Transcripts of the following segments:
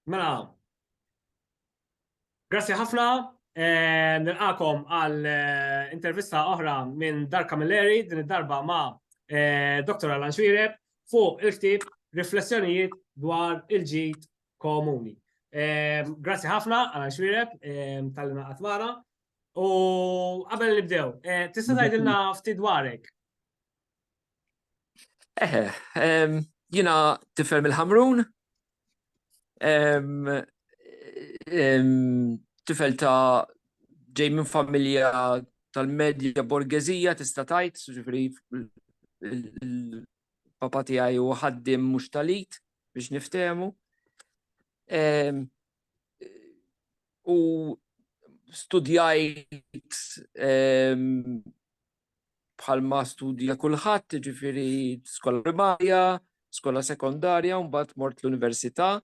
Mela, grazzi ħafna, eh, nilqakom għal eh, intervista oħra minn Dar Camilleri, din id-darba ma' eh, Dr. Alan Xwireb, fuq il-ktib Riflessjonijiet dwar il-ġid komuni. Eh, grazzi ħafna, Alan Xwireb, eh, tal-lina għatmana. U qabel nibdew, eh, tista' tgħidilna ftit dwarek? Eħe, jina tifel mill-ħamrun, tifel ta' ġej minn familja tal-medja borgezija tista' tajt, ġifri il-papa tiegħi u ħaddim mhux talit biex niftehmu. U studjajt bħalma studja kulħadd, jiġifieri skola primarja, skola sekondarja u mbagħad mort l-università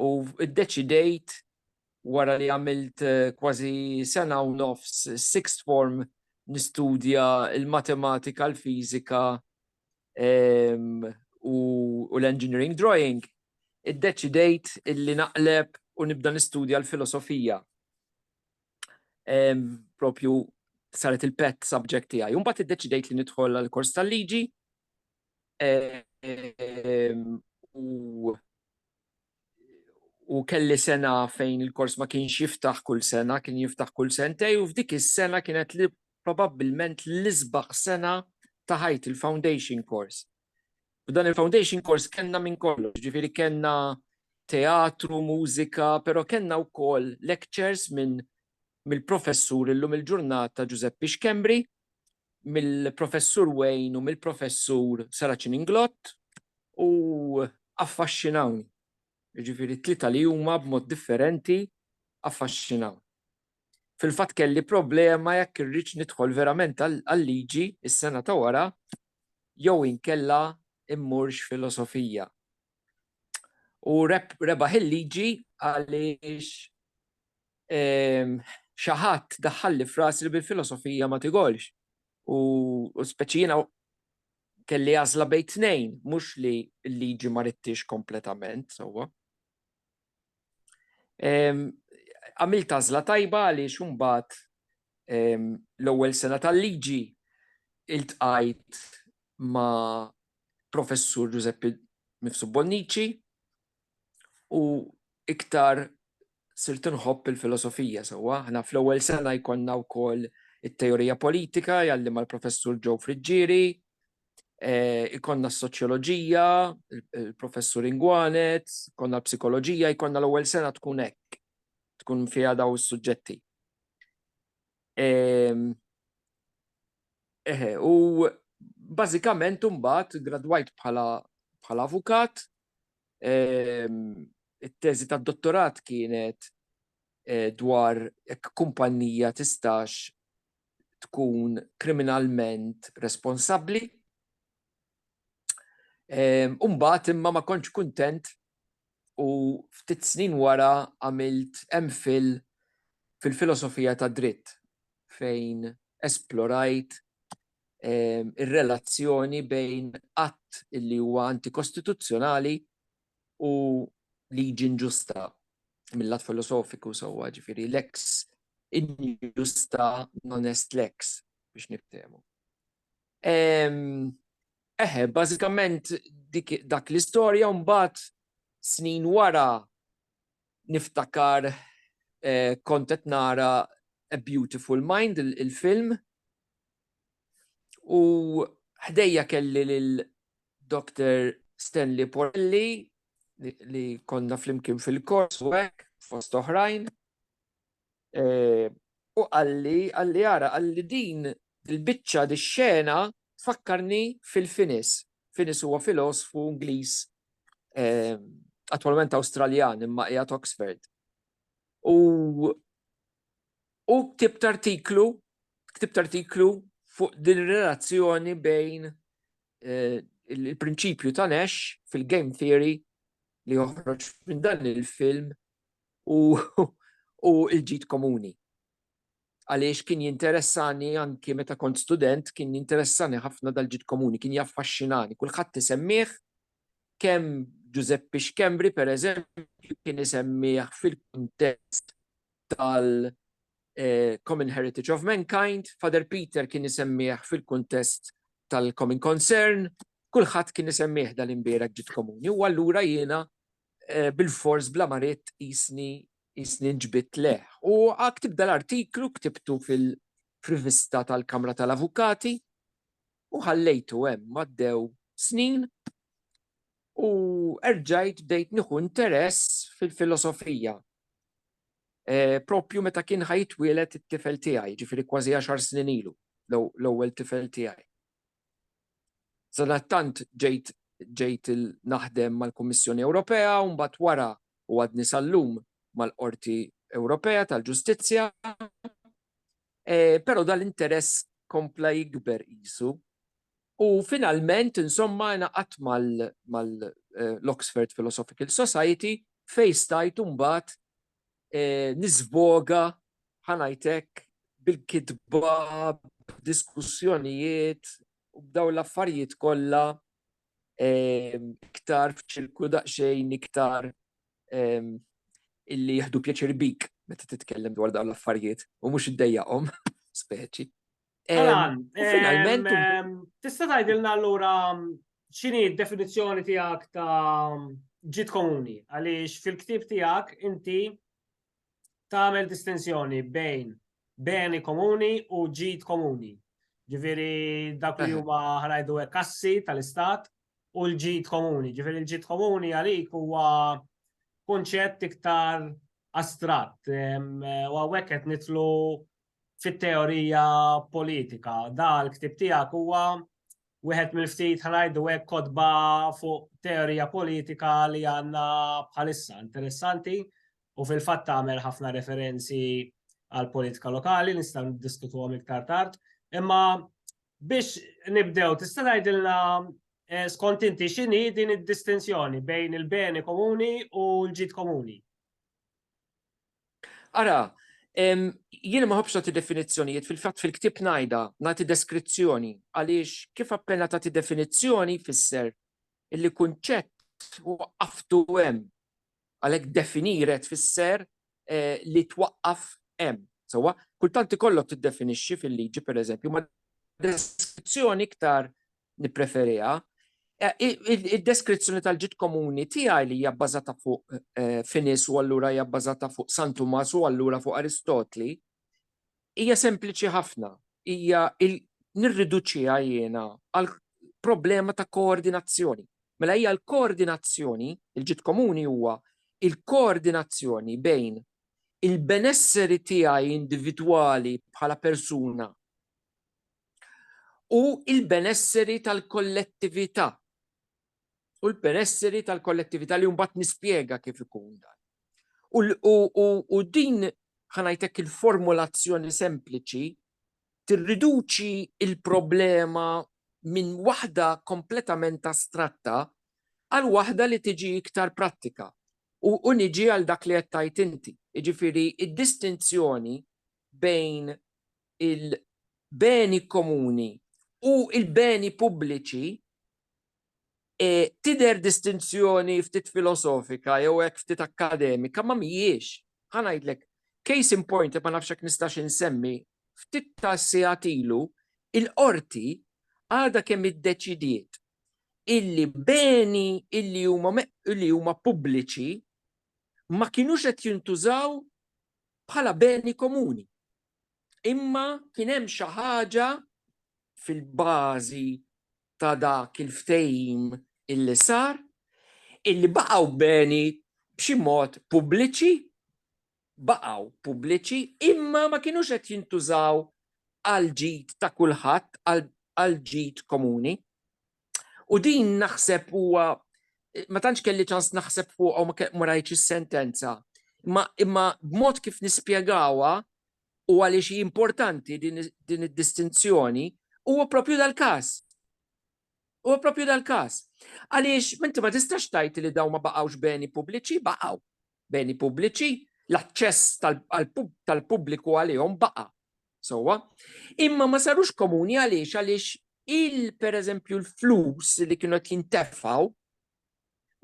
u ddeċidejt wara li għamilt eh, kważi sena u nofs sixth form nistudja il-matematika, l-fiżika ehm, u l-engineering drawing, iddeċidejt illi naqleb u nibda nistudja l-filosofija. propju saret il-pet subject tiegħi. Imbagħad iddeċidejt li nidħol għal kors tal-liġi u u kelli sena fejn il-kors ma kienx jiftaħ kull sena, kien jiftaħ kull sentej, u f'dik is-sena kienet li probabbilment l-isbaħ sena ta' ħajt il-foundation course. F'dan il-foundation course kellna minn kollox, ġifieri kellna teatru, mużika, però kellna wkoll lectures minn mill-professur illum il-ġurnata Ġużeppi Xkembri, mill-professur Wayne u mill-professur Saraċin Inglott u affaxxinawni. Ġifieri t-tlieta li huma b'mod differenti affaxxinaw. Fil-fatt kelli problema jekk irridx nidħol verament għal-liġi is-sena ta' wara jew inkella immurx filosofija. U rebaħ il-liġi għaliex ehm, xi ħadd daħħalli fras li bil-filosofija ma tigolx. U speċi jiena kelli għażla bejn tnejn, mhux li l-liġi ma rittix kompletament, sewwa. Għamilt għażla tajba għaliex imbagħad l-ewwel sena tal-liġi iltqajt ma' Professur Giuseppe Mifsud Bonnici u iktar sirt inħobb il-filosofija sewwa. Aħna fl-ewwel sena jkollna wkoll it-teorija politika jgħallimha l-Professur Joe Friggieri, eh, ikonna s-soċjoloġija, il-professur Ingwanet, ikonna l-psikoloġija, ikonna l-ewwel sena tkun hekk, tkun fiha daw is-suġġetti. Ehm, eħe, u bażikament imbagħad gradwajt bħala bħala avukat, ehm, it-teżi tad-dottorat kienet eh, dwar jekk kumpanija tistax tkun kriminalment responsabbli. U mbagħad imma ma kontx kuntent u ftit snin wara għamilt MPhil fil-filosofija tad-dritt fejn esplorajt ir-relazzjoni bejn att li huwa antikostituzzjonali u liġi inġusta mill-lat filosofiku sewwa, ġifieri lex injusta non est lex biex niftehmu. Eħe, bażikament dak l-istorja mbagħad snin wara niftakar eh, kont qed nara A Beautiful Mind il-film U ħdejja kelli lil Dr. Stanley Porelli li konna flimkien fil-kors u hekk fost oħrajn. E, u għalli, għalli għara, għalli din il-bicċa di xena fakkarni fil-finis. Finis huwa filosfu Ingliż e, attualment Awstraljan imma qiegħed Oxford. U U ktibt artiklu, ktibt artiklu fuq din ir-relazzjoni bejn il-prinċipju ta' Nash fil-game theory li joħroġ minn dan il-film u l-ġid komuni. Għaliex kien jinteressani anki meta kont student, kien jinteressani ħafna dal-ġid komuni, kien jaffaxxinani. Kulħadd isemmieh, kemm Ġużeppi Xkembri, pereżempju, kien isemmih fil-kuntest tal-Common Heritage of Mankind, Father Peter kien isemmih fil-kuntest tal-Common Concern, kulħadd kien isemmih dal-imbierek ġid komuni u allura jiena bilfors bla ma ridt qisni qisni nġbidt lejh. U ktib dal-artiklu ktibtu fil-rivista tal-Kamra tal-Avukati u ħallejtu hemm għaddew snin u erġajt bdejt nieħu interess fil-filosofija proprju meta kien ħa jitwieled it-tifel tiegħi, jiġifieri kważi għaxar snin ilu, l-ewwel tifel tiegħi. Sadattant ġejt ġejt naħdem mal-Kummissjoni Ewropea u mbagħad wara u għadni sal-lum mal-Qorti Ewropea tal-Ġustizzja. Però dal-interess kompla jikber qisu U finalment, insomma, ingħaqadt mal-Oxford Philosophical Society fejn stajt imbagħad niżvoga, ħa ngħid hekk, bil-kitba, b'diskussjonijiet u b'dawn l-affarijiet kollha iktar f'ċirku daqsxejn iktar illi jieħdu pjaċir bik meta titkellem dwar dawn l-affarijiet u mhux iddejjaqhom speċi. Alan, finalment. Tista' tgħidilna allura x'inhi d-definizzjoni tiegħek ta' ġid komuni għaliex fil-ktieb tiegħek inti tagħmel distinzjoni bejn beni komuni u ġid komuni. Ġifieri dak li huma ħanajdu hekk kassi tal-istat u l-ġid komuni. Ġifieri l-ġid komuni għalik huwa konċett iktar astratt. U għawek qed nitlu fit-teorija politika. Da l-ktib tiegħek huwa wieħed mill-ftit ħanajdu hekk kotba fuq teorija politika li għandna bħalissa interessanti u fil-fatt tagħmel ħafna referenzi għal politika lokali nistgħu niddiskutuhom iktar tard. Imma biex nibdew tista' tgħidilna eh, skont inti x'inhi din id-distinzjoni bejn il-beni komuni u l-ġid komuni? Ara, jiena ma ħobbx nagħti definizzjonijiet, fil-fatt fil-ktieb ngħidha, nagħti deskrizzjoni, għaliex kif appena tagħti definizzjoni jfisser illi kunċett waqqaftu hemm. Għalhekk definire tfisser eh, li twaqqaf hemm. Sewwa, kultant ikollok tiddefinixxi fil-liġi pereżempju ma' deskrizzjoni iktar nippreferiha. Id-deskrizzjoni tal-ġid komuni tiegħi li hija bbażata fuq Finis u allura hija bbażata fuq San Tumas u allura fuq Aristotli hija sempliċi ħafna, hija nirriduċiha jiena għal problema ta' koordinazzjoni. Mela hija l-koordinazzjoni, il-ġid komuni huwa l-koordinazzjoni bejn il-benesseri tiegħi individwali bħala persuna u l-benesseri tal-kollettività. U l-benesseri tal-kollettività li mbagħad nispjega kif ikun dan. U din ħanajtek il-formulazzjoni sempliċi tirriduċi il-problema minn waħda kompletament astratta għal waħda li tiġi iktar prattika. U niġi għal dak li qed tgħid inti, jiġifieri d-distinzjoni bejn il-beni komuni u l-beni pubbliċi tidher distinzjoni ftit filosofika jew hekk ftit akkademika, ma mhijiex. Ħa ngħidlek, case in point li ma nafx jekk nistax insemmi, ftit ta' sigħat ilu l-Qorti għadha kemm iddeċidiet illi beni illi huma illi huma pubbliċi ma kinux qed jintużaw bħala beni komuni. Imma kien hemm xi ħaġa fil-bażi ta' dak il-ftehim illi sar illi baqgħu beni b'xi mod pubbliċi, baqgħu pubbliċi imma ma kinux qed jintużaw għal ġid ta' kulħadd għal ġid komuni. U din naħseb huwa ma tantx kelli ċans naħseb fuq u ma rajtx is-sentenza. Imma imma b'mod kif nispjegawha u għaliex hi importanti din id-distinzjoni huwa propju dal-każ. Huwa propju dal-każ. Għaliex minti ma tistax tgħid li dawn ma baqgħux beni pubbliċi, baqgħu. beni pubbliċi, l-aċċess tal-pubbliku għalihom baqa' sewwa, imma ma sarux komuni għaliex għaliex il pereżempju l-flus li kienu qed jintefgħu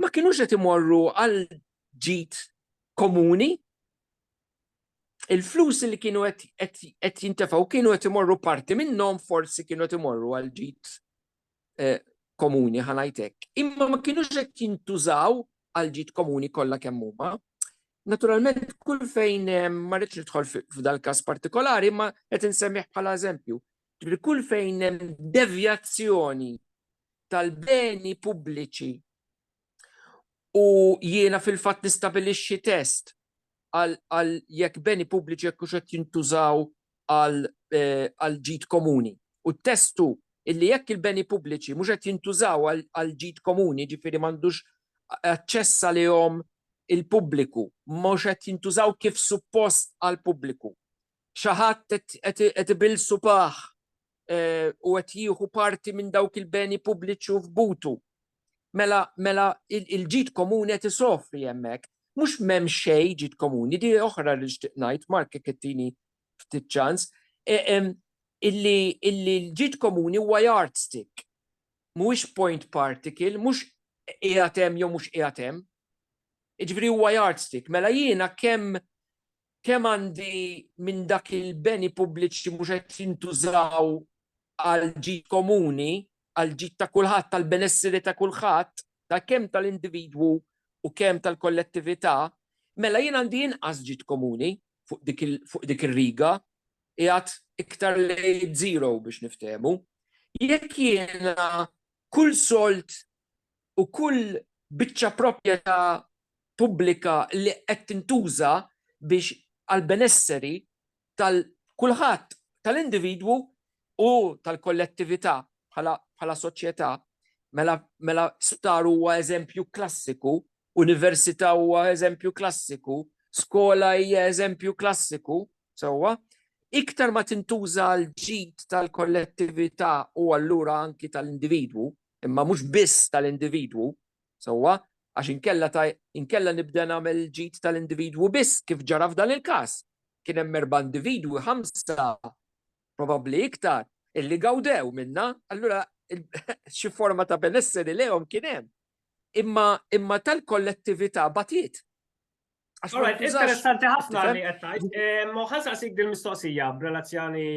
ma kienux qed imorru għal ġid komuni. Il-flus li kienu qed jintefgħu kienu qed imorru parti minnhom forsi kienu qed imorru għal ġid eh, komuni ħanajt hekk, imma ma kinux qed jintużaw għal ġid komuni kollha kemm huma. Naturalment kull fejn eh, ma rridx nidħol f'dal każ partikolari, ma qed insemmih bħala eżempju. Ġifieri kull fejn hemm devjazzjoni tal-beni pubbliċi U jiena fil-fatt nistabilixxi test għal jekk beni pubbliċi jekk hux qed jintużaw għal eh, ġid komuni. U t-testu illi jekk il-beni pubbliċi mhux qed jintużaw għal ġid komuni, ġifieri m'għandux aċċess għalihom il-pubbliku, mhux qed jintużaw kif suppost għal pubbliku. Xi ħadd qed ibil supaħ eh, u qed jieħu parti minn dawk il-beni pubbliċi u f'butu Mela, mela il-ġid komuni qed isofri hemmhekk. Mhux m'hemm xejn ġid komuni, di oħra li nixtieq ngħid, Mark jekk ittini ftit ċans, e, illi l-ġid komuni huwa yardstick, mhuwiex point particle, mhux qiegħed hemm jew mhux qiegħed hemm. Jiġifieri huwa yardstick, mela jiena kemm kemm għandi minn dak il-beni pubbliċi mhux qed jintużaw għall-ġid komuni, għall-ġid ta' kulħadd, għall-benesseri ta' kulħadd, ta' kemm tal-individwu u kemm tal-kollettività, mela jien għandi inqas ġid komuni fuq dik ir-riga, qiegħed iktar lejn żero biex niftehmu. Jekk jiena kull sold u kull biċċa proprjetà pubblika li qed tintuża biex għall-benesseri tal-kulħadd, tal-individwu u tal-kollettività bħala soċjetà. Mela, mela sptar huwa eżempju klassiku, università huwa eżempju klassiku, skola hija eżempju klassiku, sewwa? Iktar ma tintuża għall-ġid tal-kollettività u allura anki tal-individwu, imma mhux biss tal-individwu, sewwa, għax inkella ta' inkella nibda nagħmel il-ġid tal-individwu biss kif ġara f'dan il-każ. Kien hemm erba' individwi, ħamsa, probabbli iktar, illi gawdew minnha, allura xi forma ta' benesseri lejhom kien hemm. Imma imma tal-kollettività batiet. Alright, interessanti ħafna li għettajt. Moħan saqsik dil-mistoqsija b'relazzjoni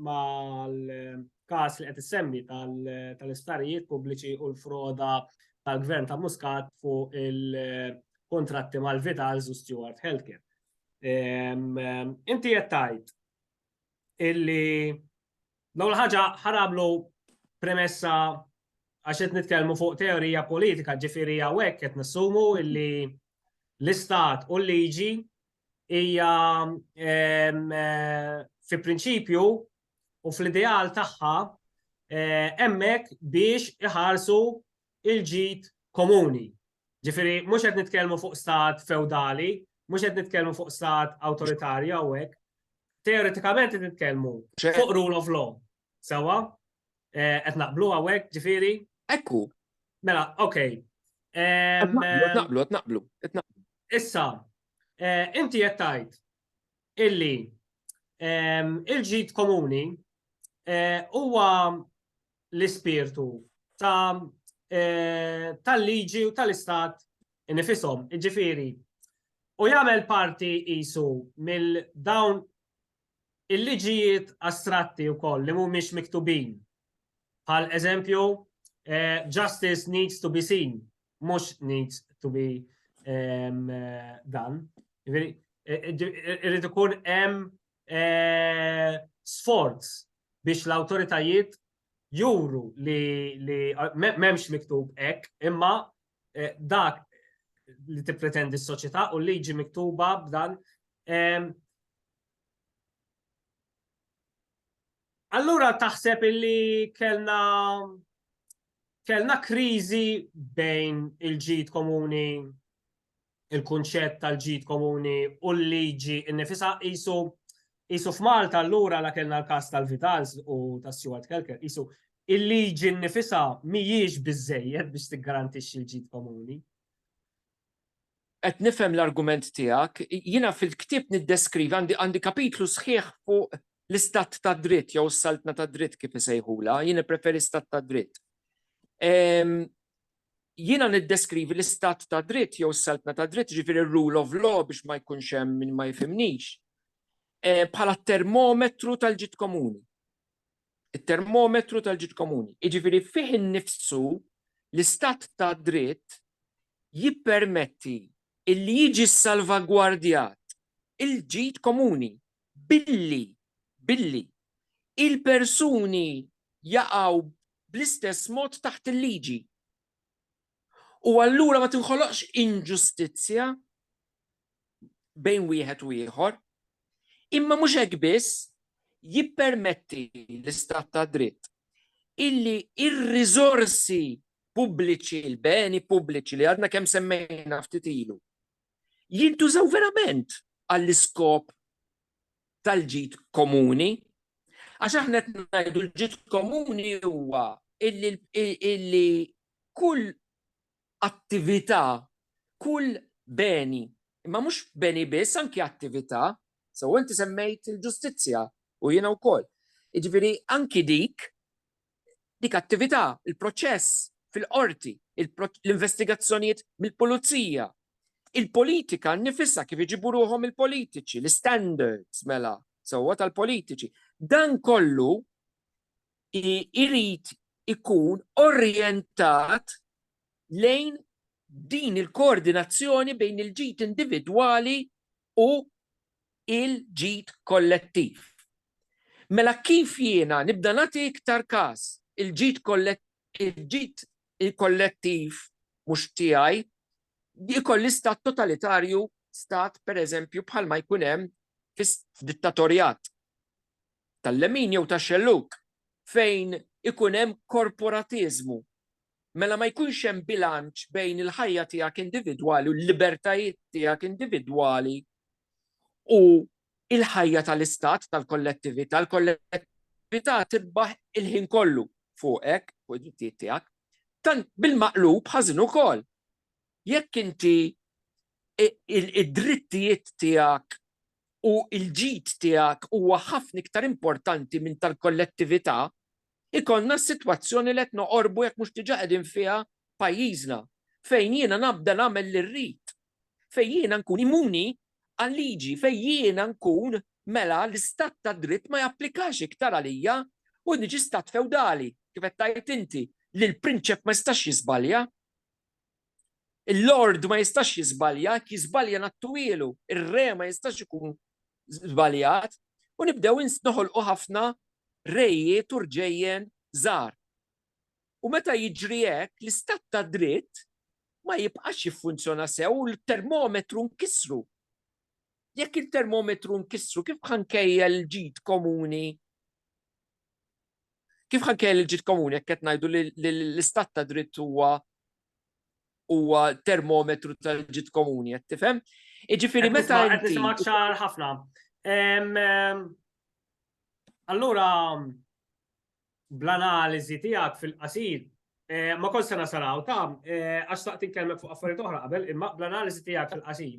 mal-kas li għet semmi tal-istarijiet pubbliċi u l-froda tal-gvern ta' Muscat fuq il-kontratti mal-Vitals u Stewart Healthcare. Inti għettajt illi L-ewwel ħaġa ħarablu premessa għax qed nitkellmu fuq teorija politika, ġifieri hawnhekk qed nassumu illi l-istat u l-liġi hija ehm, eh, fi prinċipju u fl-ideal tagħha eh, hemmhekk biex iħarsu il-ġid komuni. Ġifieri mhux qed nitkellmu fuq stat feudali, mhux qed nitkellmu fuq stat awtoritarju hawnhekk, Teoretikament qed nitkellmu fuq rule of law. Sewa? Eh, qed naqblu hawnhekk, ġifieri? Ekku. Mela, ok. Qed naqblu, qed naqblu, qed naqblu. Issa, eh, inti qed tgħid illi il-ġid komuni eh, huwa l-ispirtu ta' eh, tal-liġi u tal-istat nifisom, ġifiri. U jagħmel parti isu mill-dawn il-liġijiet astratti u koll li mhumiex miktubin. Pal eżempju, eh, justice needs to be seen, mhux needs to be um, done. Irrid ikun hemm sforz biex l-awtoritajiet juru li m'hemmx miktub hekk, imma dak li tippretendi s-soċjetà u l-liġi miktuba b'dan. Allura taħseb illi kellna kellna kriżi bejn il-ġid komuni il-kunċett tal-ġid komuni u l-liġi innifisha qisu qisu f'Malta allura la kellna l-każ tal-Vitals u ta' Stuart Kelker qisu il-liġi nnifisha mhijiex biżejjed biex tiggarantixxi l-ġid komuni. Qed nifhem l-argument tiegħek, jiena fil-ktieb niddeskrivi għandi għandi kapitlu sħiħ fuq l-istat ta' dritt jew s-saltna ta' dritt kif isejħula, jien preferi stat ta' dritt. Ehm, jiena niddeskrivi l-istat ta' dritt jew s-saltna ta' dritt, ġifieri r-rule of law biex ma jkunx hemm min ma jifhimnix, eh, bħala termometru tal-ġid komuni. It-termometru tal-ġid komuni. Jiġifieri fih innifsu l-istat ta' dritt jippermetti illi jiġi salvagwardjat il-ġid komuni billi billi il-persuni jaqgħu bl-istess mod taħt il-liġi. U allura ma tinħoloqx inġustizzja bejn wieħed u ieħor, imma mhux hekk biss jippermetti l-istat ta' dritt illi ir-riżorsi pubbliċi, l-beni pubbliċi li għadna kemm semmejna ftit ilu, jintużaw verament għall-iskop tal-ġid komuni, għax aħna qed ngħidu l-ġid komuni huwa illi kull attività, kull beni, imma mhux beni biss, anki attività, sew inti semmejt il-ġustizzja u jiena wkoll. Jiġifieri anki dik dik attività, il-proċess fil-qorti, l-investigazzjonijiet mill-pulizija, il-politika nnifisha kif iġibu ruħhom il-politiċi, l-istandards mela sewwa tal-politiċi. Dan kollu irid ikun orjentat lejn din il-koordinazzjoni bejn il-ġid individwali u l-ġid kollettiv. Mela kif jiena nibda nagħti iktar kas il-ġid il-ġid kollettiv mhux tiegħi jkolli stat totalitarju, stat pereżempju bħalma jkun hemm fis-dittatorjat tal-lemin jew tax-xellug fejn ikun hemm korporatiżmu mela ma jkunx hemm bilanċ bejn il-ħajja tiegħek individwali u l-libertajiet tiegħek individwali u il-ħajja tal-istat, tal-kollettività, l-kollettività tibbaħ il-ħin kollu fuqek, fuq id-drittijiet tiegħek. Tant bil-maqlub ħażin ukoll. Jekk inti id-drittijiet tiegħek u l-ġid tiegħek huwa ħafna iktar importanti minn tal-kollettività, ikollna s-sitwazzjoni li qed noqorbu jekk mhux diġà qegħdin fiha f'pajjiżna, fejn jiena nabda nagħmel li rrid, fejn jiena nkun immuni għal-liġi, fejn jiena nkun mela l-istat tad-dritt ma japplikax iktar għalija u niġi stat fewdali, kif qed tgħid inti, li l-prinċep ma jistax jiżbalja. Il-Lord ma jistax jiżbalja, jiżbalja nattuwielu, ir-re ma jistax ikun żbaljat, u nibdew noħolqu ħafna rejiet u rġejjen żgħar. U meta jiġri hekk, l-istat ta' dritt ma jibqax jiffunzjona sew u l-termometru nkissru. Jekk il-termometru nkissru, kif ħankejjel ġid komuni Kif ħanke l-ġid komuni jekk qed ngħidu li l-istat ta' dritt huwa huwa termometru tal-ġid komuni, qed tifhem? Iġifieri meta qed nisimgħek ċar ħafna. Allura bl-analiżi tiegħek fil-qasir eh, ma kont se nasaraw ta' eh, għax taqt tinkellmek fuq affarijiet oħra qabel, imma bl-analiżi tiegħek fil-qasir.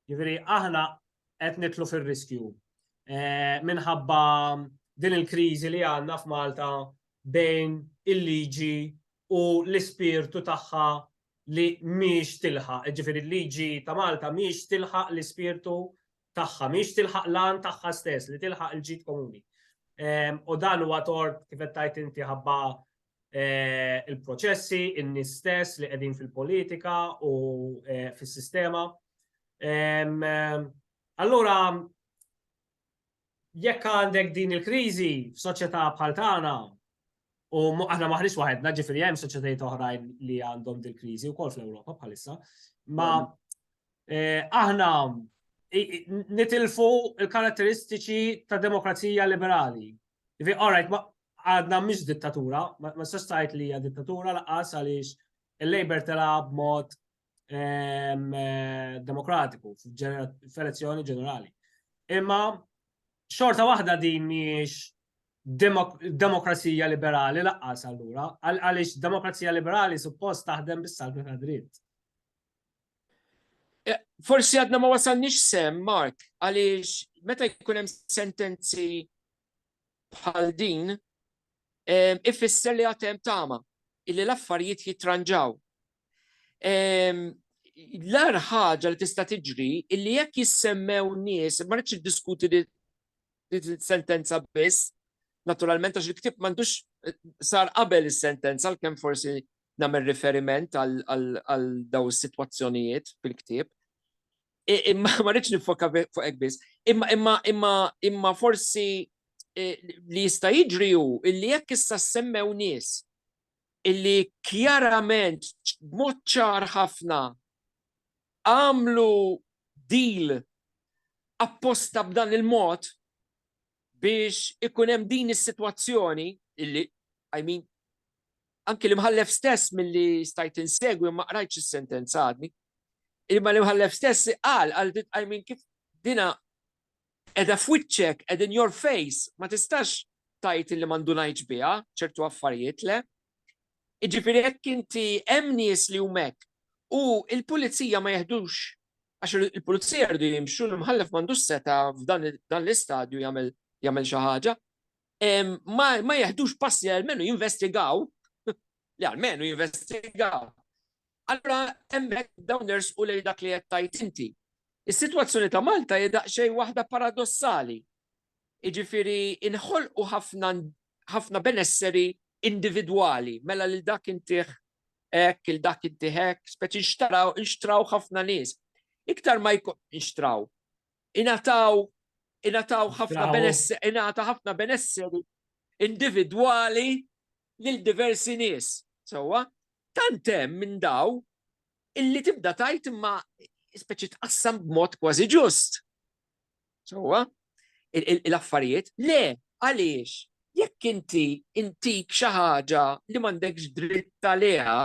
Jiġifieri aħna qed nitlu fir-riskju. Eh, minħabba din il-kriżi li għandna f'Malta bejn il-liġi u l-ispirtu tagħha li miex tilħa, ġifiri l-liġi ta' Malta miex tilħa l-ispirtu tagħha, miex tilħa l-għan tagħha stess, li tilħa l-ġid komuni. Ehm, u dan huwa tort kif tajt inti ħabba eh, il-proċessi, in-nies stess li qegħdin fil-politika u eh, fis-sistema. Allura, jekk għandek din il-kriżi f'soċjetà bħal tagħna, u aħna maħniex waħedna ġifieri hemm soċjetajiet oħrajn li għandhom din il-kriżi wkoll fl-Ewropa bħalissa, ma eh, aħna nitilfu il-karatteristiċi ta' demokrazija liberali. Ivi, all right, għadna mhix dittatura, ma sostajt li hija dittatura laqas għaliex il-Labor telab mod ehm, eh, demokratiku f'elezzjoni ġenerali. Imma xorta waħda din miex demokrazija liberali laqqas allura, għaliex demokrazija liberali suppost taħdem bis-salvi ta' dritt. Eh, forsi għadna ma wasalniex sem, Mark, għaliex meta jkun hemm sentenzi bħal din ifisser li għatem tama illi l-affarijiet jitranġaw. L-ar ħaġa li tista' tiġri illi jekk jissemmew nies, ma rridx diskuti li sentenza biss, naturalment għax il-ktib m'għandux eh, sar qabel is-sentenza l-kemm forsi nagħmel riferiment għal daw is-sitwazzjonijiet fil-ktieb. Imma ma rridx nifokka fuq hekk biss. Imma imma imma imma forsi e, li jista' jiġri hu illi jekk issa semmew nies illi kjarament b'mod ċar ħafna għamlu deal apposta b'dan il-mod biex ikun hemm din is-sitwazzjoni illi I mean Anki l-Imħallef stess milli stajt insegwi ma qrajtx is-sentenza għadni. Imma l-Imħallef stess qal għal dit qajmin kif dina edha f'wiċċek, ed in your face, ma tistax tajt li ma ndunajtx biha ċertu affarijiet le. Iġifieri hekk inti hemm nies li hekk u l-pulizija ma jeħdux għax il-pulizija rridu jimxu l-imħallef m'għandux seta f'dan l-istadju jagħmel xi ħaġa. ma jeħdux passi għalmenu jinvestigaw, li għalmenu jinvestigaw. Allora, emmek downers u lej dak li jettajt inti. Is-situazzjoni ta' Malta jedaq xej waħda paradossali. Iġifiri, inħol u ħafna benesseri individuali, mela li dak intiħ ek, il dak intiħek, speċi nxtraw, nxtraw ħafna nis. Iktar ma jkun nxtraw, Ingħataw ingħataw ħafna benesseri, ingħata ħafna benesseri individwali lil diversi nies. Sewwa, tant hemm minn daw illi tibda tajt imma speċi tqassam b'mod kważi ġust. Sewwa, l-affarijiet, le, għaliex, jekk inti intik xi ħaġa li m'għandekx dritt għaliha,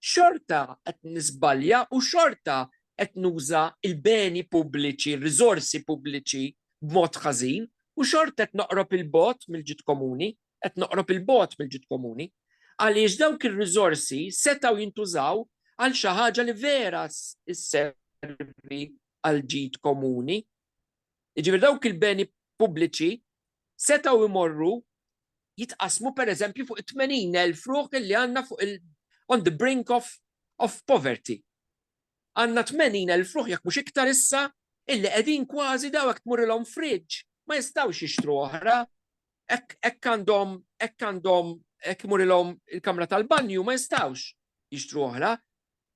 xorta qed niżbalja u xorta qed nuża l-beni pubbliċi, r-riżorsi pubbliċi b'mod ħażin u xorta qed noqrob 'il bogħod mill-ġid komuni, qed noqrob 'il bogħod mill-ġid komuni. Għaliex dawk ir-riżorsi setgħu jintużaw għal xi ħaġa li vera sservi għall-ġid komuni. Jiġifieri dawk il-beni pubbliċi setgħu jmorru jitqassmu pereżempju fuq it-80,000 ruħ li għandna fuq il- on the brink of of poverty. Għandna 80,000 ruħ jekk mhux iktar issa illi qegħdin kważi daw jekk tmurrilhom fridge ma jistgħux jixtru oħra. Hekk hekk għandhom hekk għandhom hekk imurilhom il-kamra tal-banju ma jistgħux jixtru oħra.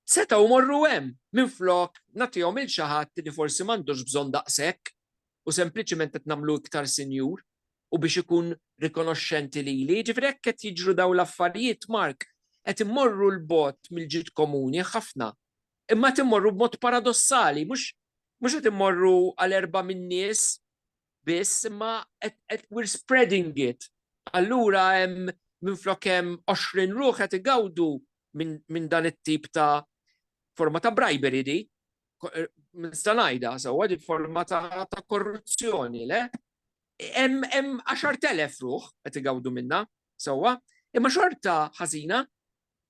Setgħu jmorru hemm minflok nagħtihom il xi ħadd li forsi m'għandux bżonn daqshekk u sempliċement qed nagħmlu iktar sinjur. u biex ikun rikonoxxenti lili. Jiġifieri hekk qed jiġru dawn l-affarijiet, Mark, qed immorru 'l bogħod mill-ġid komuni ħafna. Imma qed immorru b'mod paradossali, mhux mhux qed immorru għal erbgħa min-nies biss, imma qed we're spreading it. Allura hemm minflok hemm 20 ruħ qed igawdu minn min dan it-tip ta' forma ta' bribery di. Nista' ngħidha sewwa di forma ta' korruzzjoni, le? Hemm 10,000 ruħ qed igawdu minnha sewwa, imma xorta ħażina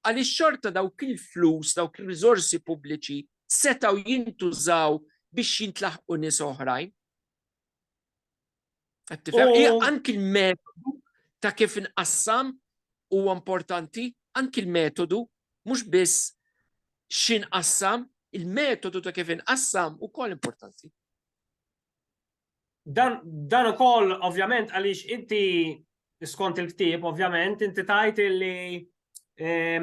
għaliex xorta dawk il-flus, dawk ir-riżorsi pubbliċi setgħu jintużaw biex jintlaħqu nies oħrajn. Qed tifhem? Hija anki l-metodu ta' kif inqassam huwa importanti, anki l-metodu mhux biss x'inqassam, il-metodu ta' kif inqassam ukoll importanti. Dan, dan ukoll ovvjament għaliex inti skont il-ktieb ovvjament inti tajt li eh,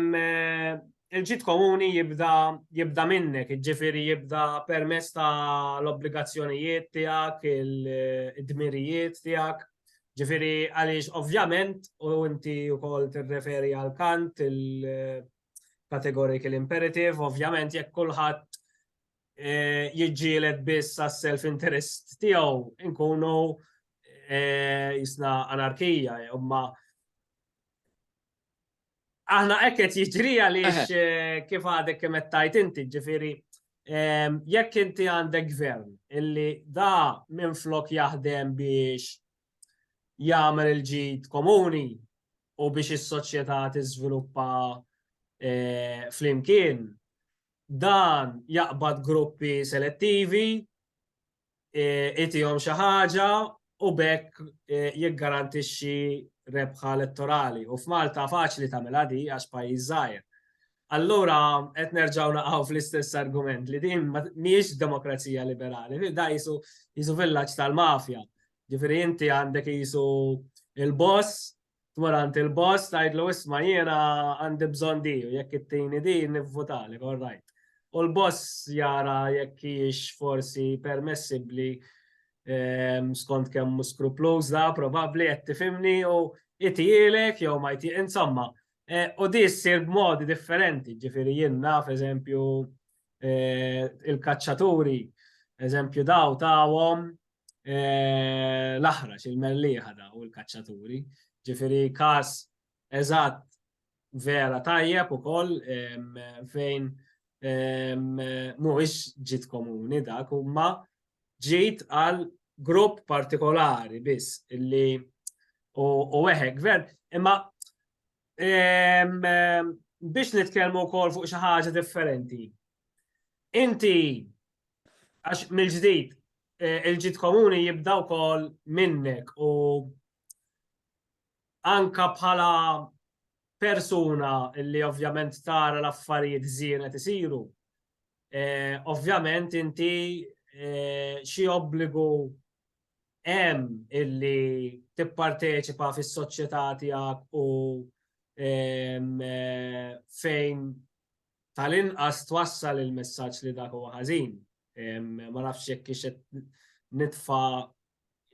il-ġit komuni jibda jibda minnek, ġifiri jibda permess ta' l-obbligazzjonijiet tiegħek, il-dmirijiet tiegħek. Ġifiri għaliex ovvjament u inti wkoll tirreferi għal kant il-categorical imperative, ovvjament jekk kulħadd jiġġieled biss għas-self interest tiegħu nkunu jisna anarkija, imma aħna hekk qed jiġri għaliex kif għadek kemm qed tajt inti, ġifieri jekk inti għandek gvern illi da minn flok jaħdem biex jagħmel il-ġid komuni u biex is-soċjetà tiżviluppa flimkien, dan jaqbad gruppi selettivi, itihom xi ħaġa u bekk jiggarantixxi rebħa elettorali. U f'Malta faċli tagħmilha di għax pajjiż żgħir. Allura qed nerġgħu naqgħu fl-istess argument li din mhijiex demokrazija liberali, da jisu jisu villaġġ tal-mafja. Ġifieri inti għandek jisu il-boss tmur għand il-boss tgħidlu isma' jiena għandi bżonn di u jekk ittini di nivvutali, all right. U l-boss jara jekk hijiex forsi permessibbli ehm, skont kemm mhu skrupluż da, probabbli qed tifhimni u itielek jew ma jti insomma. Eh, u di ssir b'modi differenti, ġifieri jien naf eżempju eh, il-kaċċaturi eżempju daw tawhom l-aħrax, il-mellieħa da u l-kaċċaturi. Ġifiri kas eżatt vera tajjeb u koll fejn mhuwiex ġit komuni dak huma ġit għal grupp partikolari biss illi u weħek gvern. Imma biex nitkellmu wkoll fuq xi ħaġa differenti. Inti għax mill-ġdid Eh, il-ġid komuni jibda wkoll minnek u anka bħala persuna li ovvjament tara l-affarijiet żienet isiru. Eh, ovvjament inti eh, xi obbligu hemm illi tipparteċipa fis-soċjetà tiegħek u ehm, fejn tal-inqas twassal il-messaġġ li dak huwa ħażin. Ma nafx jekk kiex qed nitfa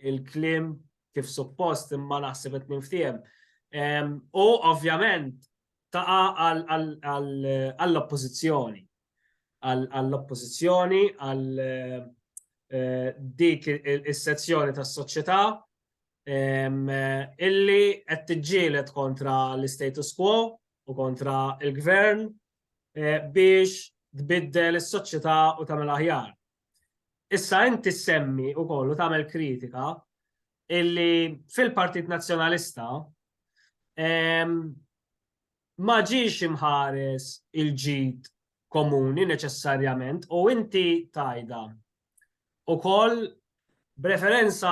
il-klim kif suppost imma naħseb qed ninftiehem. U ovvjament taqa għall-oppożizzjoni. Għall-oppożizzjoni, għall eh, dik is-sezzjoni tas-soċjetà illi qed tiġġieled kontra l-istatus quo u kontra l-gvern eh, biex tbiddel is-soċjetà u tagħmel aħjar. Issa inti semmi u kollu tagħmel kritika illi fil-Partit Nazzjonalista ma ġiex imħares il-ġid komuni neċessarjament u inti tajda ukoll b'referenza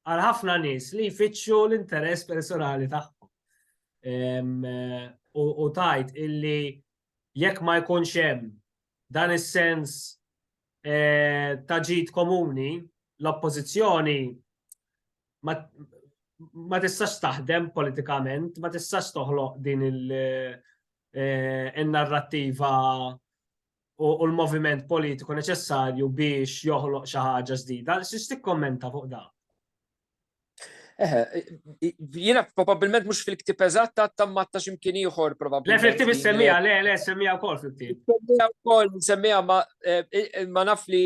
għal ħafna nies li jfittxu l-interess personali tagħhom. U tajt illi jekk ma jkunx hemm dan is-sens eh, ta' ġid komuni, l-oppożizzjoni ma tistax taħdem politikament, ma tistax toħloq din il- eh, in-narrattiva u l-moviment politiku neċessarju biex joħloq xi ħaġa ġdida. Xiex tikkommenta fuq da? Eħe, jiena probabilment mhux fil-ktib eżatt ta' tammatta x'imkien ieħor probabilment. Le fil-ktib issemmija, le le semmija wkoll fil-ktib. Semmija wkoll semmija ma eh, naf li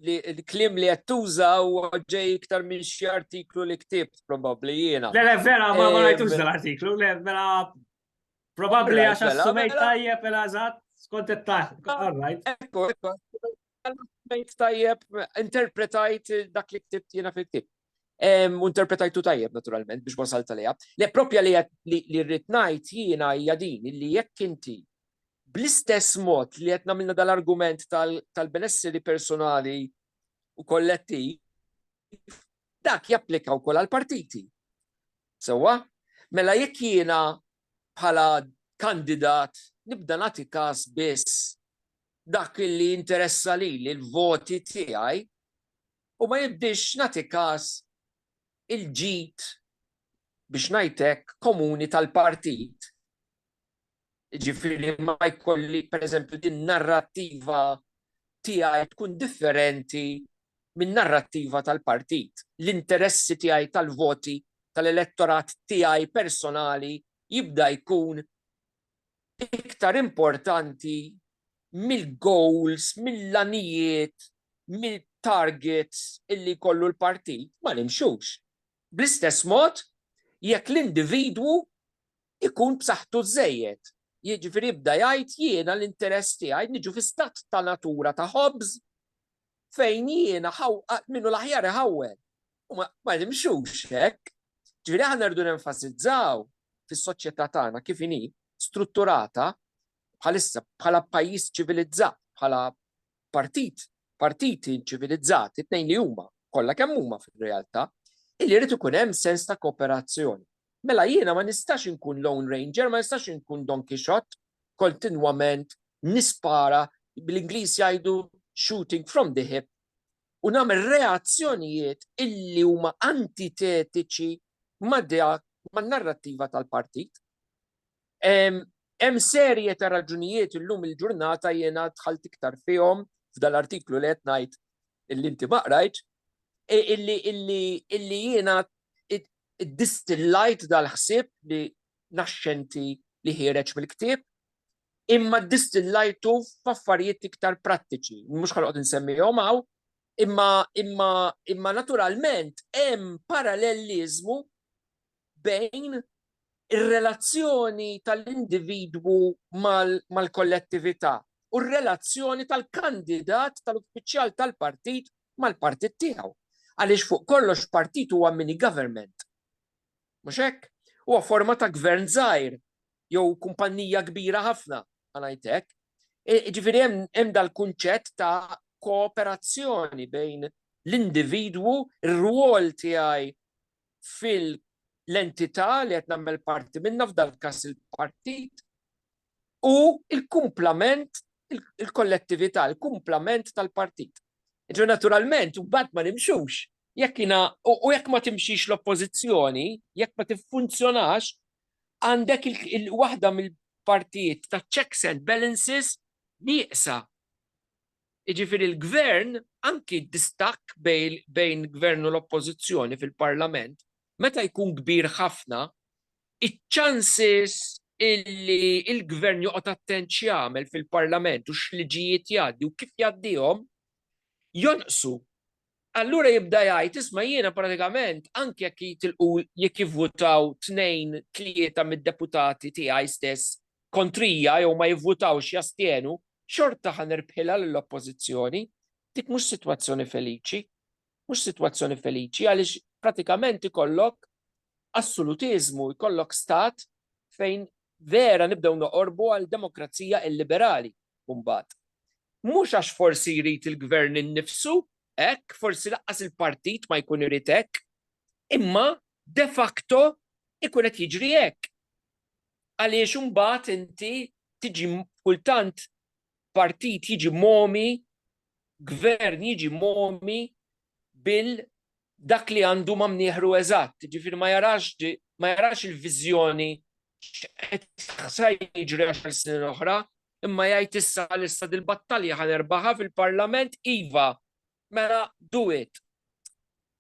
li l-klim li qed tuża u ġej iktar minn xi artiklu li ktibt probabbli jiena. Le le vera ma ma eh, rajtux dal-artiklu, le vera Probabbli għax Mela, assumejt mela. tajjeb mela eżatt, skont it-taħt. All right. Ekku, ekku. Għallmejt tajjeb, interpretajt dak li ktibt jena fil-ktib. Em, U interpretajtu tajjeb, naturalment, biex wasalt għalija. Le, propja li qed- li li rrit ngħid jiena hija din, li jekk inti bl-istess mod li qed nagħmilna dal-argument tal- tal-benesseri personali u kollettiv, dak japplika wkoll għall-partiti. Sewwa, mela jekk jiena bħala kandidat nibda nagħti kas biss dak li jinteressa lili, l-voti tiegħi, u ma nibdiex nagħti kas il-ġid, biex ngħid hekk, komuni tal-partit, Jiġifieri ma jkolli pereżempju din narrattiva tiegħi tkun differenti min-narrattiva tal-partit. L-interessi tiegħi tal-voti tal-elettorat tiegħi personali jibda jkun iktar importanti mill-goals, mill-għanijiet, mill-targets illi jkollu l-partit, ma nimxux. Bl-istess mod, jekk l-individwu ikun b'saħħtu żżejjed. Jiġifieri bda jgħid jiena l-interess tiegħi niġu fi stat ta' natura ta' ħobż fejn jiena min hu l-aħjar iħawwel. U ma nimxux hekk. Ġifieri aħna rridu nenfasizzaw fis-soċjetà tagħna kif inhi strutturata bħalissa bħala pajjiż ċivilizzat, bħala partit, partiti ċivilizzati, tnejn li huma, kollha kemm huma fir-realtà, illi jrid ikun hemm sens ta' kooperazzjoni. Mela jiena ma nistax inkun lone ranger, ma nistax inkun Don Quixote kontinwament nispara bl-Ingliż jgħidu shooting from the hip u nagħmel reazzjonijiet illi huma antitetiċi ma' dak man-narrattiva tal-partit. Hemm serje ta' raġunijiet illum il-ġurnata jiena dħalt iktar fihom f'dal-artiklu li qed ngħid illi inti ma qrajtx, illi jiena ddistillajt dal-ħsieb li naxxenti li ħiereġ mill-ktieb, imma ddistillajtu f'affarijiet iktar prattiċi. Mhux ħanoqgħod insemmihom hawn, imma naturalment hemm paralleliżmu bejn ir-relazzjoni tal-individwu mal-kollettività u r-relazzjoni tal-kandidat tal-uffiċjal tal-partit mal-partit tiegħu. Għaliex fuq kollox partit huwa mini government. Mhux hekk? Huwa forma ta' gvern żgħir jew kumpannija kbira ħafna, ngħid hekk. Ġifieri hemm dal-kunċett ta' kooperazzjoni bejn l-individwu, ir-rwol tiegħi fil-entità li qed nagħmel parti minnha, f'dan il-każ il-partit, u l-kumplament, il-kollettività, il-kumplament tal-partit. Jiġifieri naturalment, imbagħad ma nimxux, jekk jiena, u jekk ma timxix l-Oppożizzjoni, jekk ma tiffunzjonax, għandek waħda mill-partijiet taċ-checks and balances nieqsa. Jiġifieri l-Gvern, anki d-distakk bejn Gvern u l-Oppożizzjoni fil-Parlament, meta jkun kbir ħafna, iċ-chances illi l-Gvern joqgħod attent x'jagħmel fil-Parlament u x'liġijiet jgħaddi u kif jgħaddihom, jonqsu. Allura jibda jgħid, isma' jiena pratikament anke jekk jitilqu jekk jivvutaw tnejn, tlieta mid-deputati tiegħi stess kontrija jew ma jivvutawx jastjenu, xorta ħa nirbħilha lill-Oppożizzjoni. Dik mhux sitwazzjoni feliċi. Mhux sitwazzjoni feliċi għaliex pratikament ikollok assolutiżmu, jkollok stat fejn vera nibdew noqorbu għal demokrazija illiberali. mbagħad. Mhux għax forsi jrid il-Gvern innifsu hekk, forsi laqqas il-partit ma jkun irid hekk, imma de facto ikun qed jiġri hekk. Għaliex imbagħad inti tiġi kultant partit jiġi momi, gvern jiġi momi bil dak li għandu ma' mnieħru eżatt, jiġifieri ma jarax ma jarax il-viżjoni x'qed sa jiġri għaxar snin oħra, imma jgħid issa għalissa dil-battalja ħa nerbaħha fil-Parlament iva, mela do it.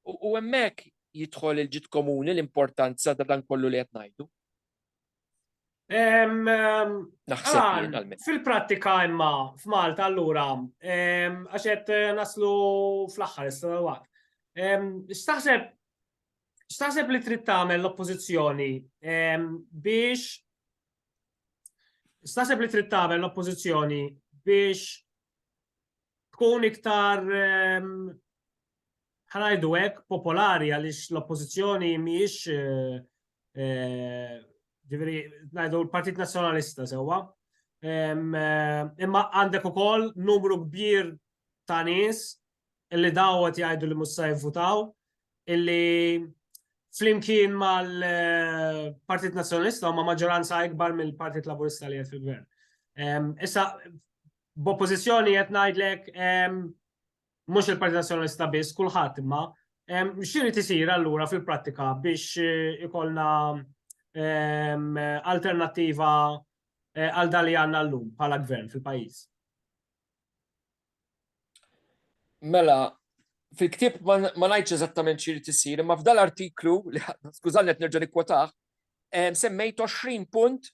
U hemmhekk jidħol il-ġid komuni l-importanza ta' dan kollu li qed ngħidu. Fil-prattika imma f'Malta allura għax qed eh, naslu fl-aħħar issa waqt. X'taħseb x'taħseb li trid tagħmel l-oppożizzjoni biex x'taħseb li trid tagħmel l-oppożizzjoni biex tkun iktar ħa ngħidu hekk, popolari għaliex l-oppożizzjoni mhijiex ġifieri ngħidu l-Partit Nazzjonalista sewwa. Imma għandek ukoll numru kbir ta' nies illi dawgħet jgħidu li mhux se jivvutaw illi flimkien mal-Partit Nazzjonalista huma maġġoranza ikbar mill-Partit Laburista li qed fil-gvern. Issa b'oppożizzjoni qed ngħidlek mhux il-Partit Nazzjonalista biss, kulħadd imma x'irid isir allura fil-prattika biex eh, ikollna alternattiva eh, għal dali għandna llum bħala gvern fil-pajjiż? Mela, fil-ktib ma ngħidx eżattament xi tisir, imma f'dal artiklu li skużani qed nerġa' nikkwotah, semmejt 20 punt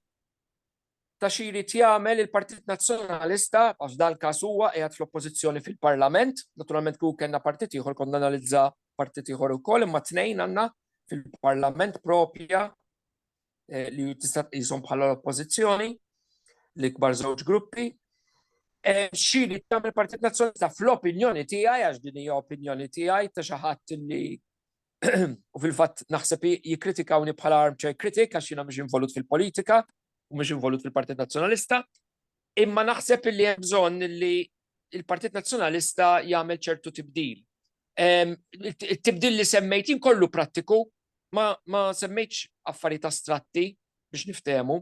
ta' xi jrid jagħmel il-Partit Nazzjonalista, għax f'dan il-każ huwa qiegħed fl-Oppożizzjoni fil-Parlament, naturalment kieku kellna partit ieħor kont nanalizza partit ieħor ukoll, imma tnejn għandna fil-Parlament proprja li tista' tqishom bħala l-Oppożizzjoni, l-ikbar żewġ gruppi. Xi jrid jagħmel il-Partit Nazzjonalista fl-opinjoni tiegħi, għax din hija opinjoni tiegħi ta' xi ħadd li u fil-fatt naħseb jikkritikawni bħala armchair critic għax jiena mhux involut fil-politika u mhux involut fil-Partit Nazzjonalista. Imma naħseb li hemm bżonn li il-Partit Nazzjonalista jagħmel ċertu tibdil. Il-tibdil li semmejt kollu prattiku ma, ma semmejtx affarijiet astratti biex niftehmu.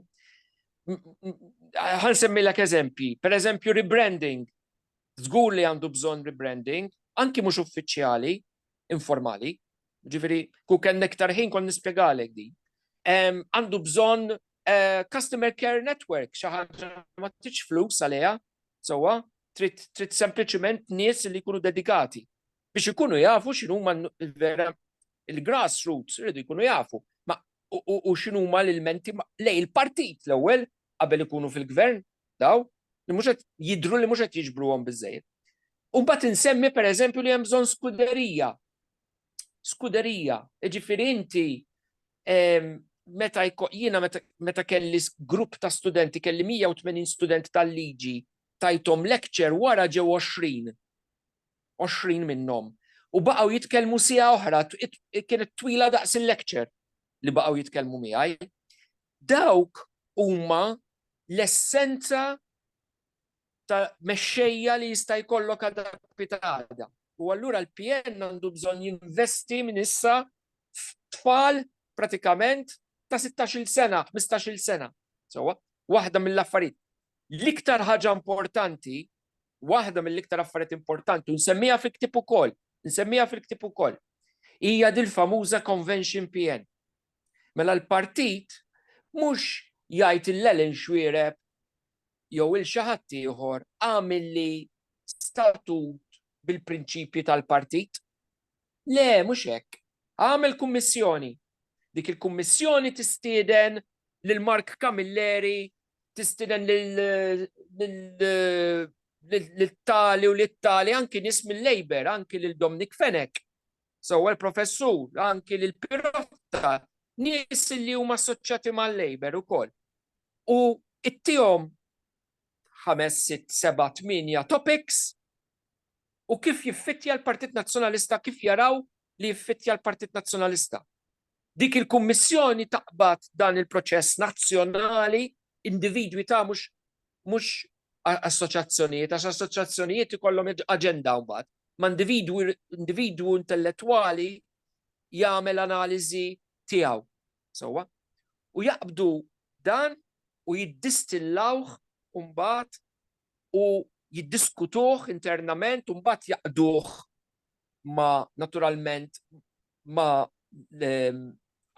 Ħan semmilek eżempji, per eżempju rebranding. Żgur li għandu bżonn rebranding, anki mhux uffiċjali, informali. Ġifieri, kieku kellna iktar ħin kont nispjegalek din. Għandu bżonn eh, customer care network, xi ħaġa ma tridx flus għaliha, sewwa, trid sempliċement nies li jkunu dedikati biex ikunu jafu x'inhuma l-vera il-grassroots rridu jkunu jafu u x'inhuma l-ilmenti lej il-partit l-ewwel qabel ikunu fil-gvern daw li mhux qed jidhru li mhux qed jiġbruhom biżejjed. U mbagħad insemmi pereżempju li hemm bżonn skuderija. Skuderija, jiġifieri inti ehm, meta jiena meta kelli grupp ta' studenti, kelli 180 student tal-liġi, tajtom lecture wara ġew 20. 20 minnhom. U baqgħu jitkellmu sija oħra, kienet twila daqs il-lecture li baqgħu jitkellmu miegħi. Dawk huma l-essenza ta' mexxejja li jista' jkollok adappi ta' għada. U allura l-PN għandu bżonn jinvesti minn issa f'tfal pratikament ta' 16-il sena, 15-il sena. Sewwa, waħda mill-affarijiet. L-iktar ħaġa importanti, waħda mill-iktar affarijiet importanti, u nsemmija fil-ktieb ukoll, nsemmija fil-ktieb ukoll, hija dil-famuża Convention PN. Mela l-partit mhux jgħid il Ellen Xuereb jew il xi ħadd ieħor għamilli statut bil-prinċipji tal-partit. Le, mhux hekk. Għamel kummissjoni. Dik il-kummissjoni tistieden lil Mark Camilleri, tistieden lil tali u lil tali anki nies mill-Labour, anki lil Dominic Fenek. Sewwa l-Professur anki lil Pirotta nies li huma assoċjati mal-Labour ukoll. U ittihom ħames, sitt, seba', tmienja topics u kif jiffittja l-Partit Nazzjonalista, kif jaraw li jiffittja l-Partit Nazzjonalista. Dik il-Kummissjoni taqbad dan il-proċess nazzjonali, individwi ta' mhux mhux assoċjazzjonijiet, għax assoċjazzjonijiet ikollhom aġenda mbagħad. Ma' individwu individwu intellettwali jagħmel analiżi tiegħu. Sewwa? U jaqbdu dan u jiddistillawh mbagħad u jiddiskutuh internament u mbagħad jaqduh ma naturalment ma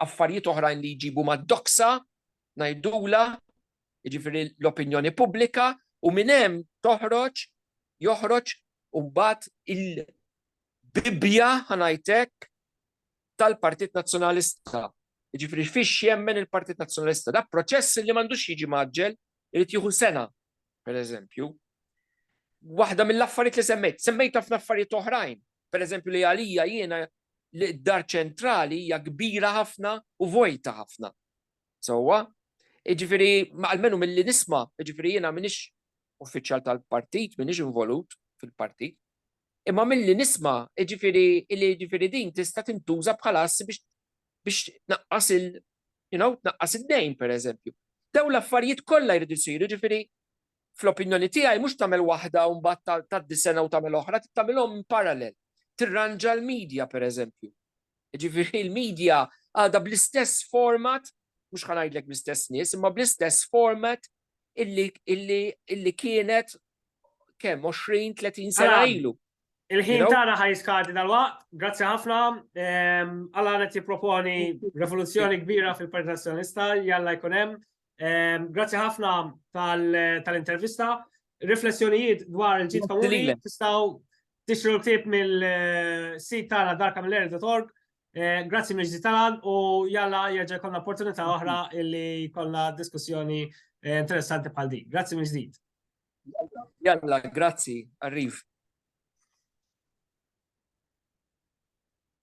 affarijiet oħrajn li jġibu ma doksa ngħidula jiġifieri l-opinjoni pubblika u minn hemm toħroġ joħroġ mbagħad il-bibja ħa ngħid hekk tal-Partit Nazzjonalista. Jiġifieri fiex jemmen il-Partit Nazzjonalista. Da proċess li m'għandux jiġi maġġel, irid jieħu sena, pereżempju. Waħda mill-affarijiet li semmejt, semmejt ħafna affarijiet oħrajn, pereżempju li għalija jiena li d-dar ċentrali hija kbira ħafna u vojta ħafna. Sewwa, jiġifieri almenu milli nisma', jiġifieri jiena m'iniex uffiċjal tal-partit, m'iniex involut fil-partit, Imma milli nisma', jiġifieri li jiġifieri din tista' tintuża bħala assi biex biex tnaqqas il you know, tnaqqas id-dejn pereżempju. Dawn l-affarijiet kollha jridu jsiru, jiġifieri fl-opinjoni tiegħi mhux tagħmel waħda u mbagħad tgħaddi sena u tagħmel oħra, trid tagħmilhom in parallel. Tirranġa l-media pereżempju. Jiġifieri l-media għadha bl-istess format, mhux ħa ngħidlek bl-istess nies, imma bl-istess format illi kienet kemm 20-30 sena ilu. Il-ħin tagħna ħaj skadi dal-waqt, grazzi ħafna. Alla qed jipproponi revoluzzjoni kbira fil-Partit Nazzjonalista, jalla jkun hemm. Grazzi ħafna tal-intervista. Riflessjonijiet dwar il-ġid komuni tistgħu tixtru l-ktieb mill-sit tagħna darkamiller.org Eh, grazzi miex tal u jalla jirġa konna opportunità oħra illi konna diskussjoni eh, interessanti bħal din. Grazzi miex ġdid. Jalla, grazzi, arriv.